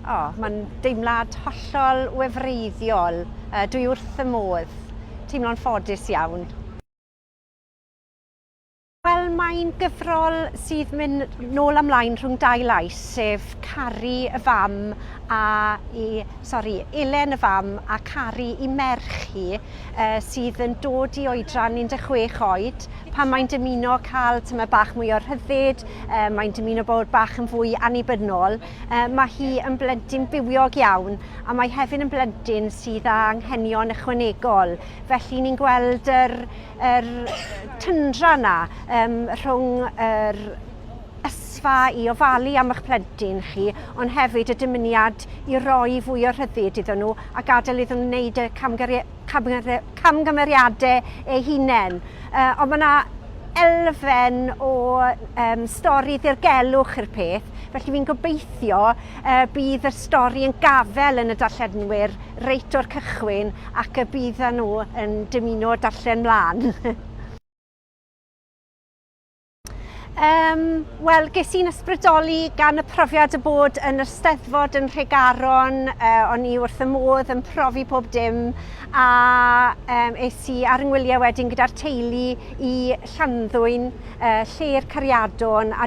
O, mae'n deimlad hollol wefreiddiol. Uh, dwi wrth fy modd. Teimlo'n ffodus iawn. Wel, mae'n gyfrol sydd mynd nôl amlaen rhwng dau lais, sef caru y fam a i, sori, Elen y fam a caru i merch hi, uh, sydd yn dod i oedran 16 oed, Pan mae'n dymuno cael tyma bach mwy o rhyddid, mae'n dymuno bod bach yn fwy annibynnol, mae hi yn blentyn bywiog iawn a mae hefyd yn blentyn sydd â anghenion ychwanegol. Felly ni'n gweld yr, yr tyndra yna um, rhwng yr ysfa i ofalu am eich plentyn chi, ond hefyd y dymuniad i roi fwy o rhyddid iddyn nhw a gadael iddyn nhw wneud y camgariad camgymeriadau eu hunain. Ond mae yna elfen o um, stori ddirgelwch i'r peth, felly fi'n gobeithio uh, bydd y stori yn gafel yn y darllenwyr reit o'r cychwyn ac y bydd nhw yn dymuno darllen mlaen. Um, Wel, ges i'n ysbrydoli gan y profiad y bod yn yr steddfod yn Rhegaron, uh, o'n i wrth y modd yn profi pob dim, a um, es i ar yngwyliau wedyn gyda'r teulu i Llanddwyn, uh, lle'r cariadon, a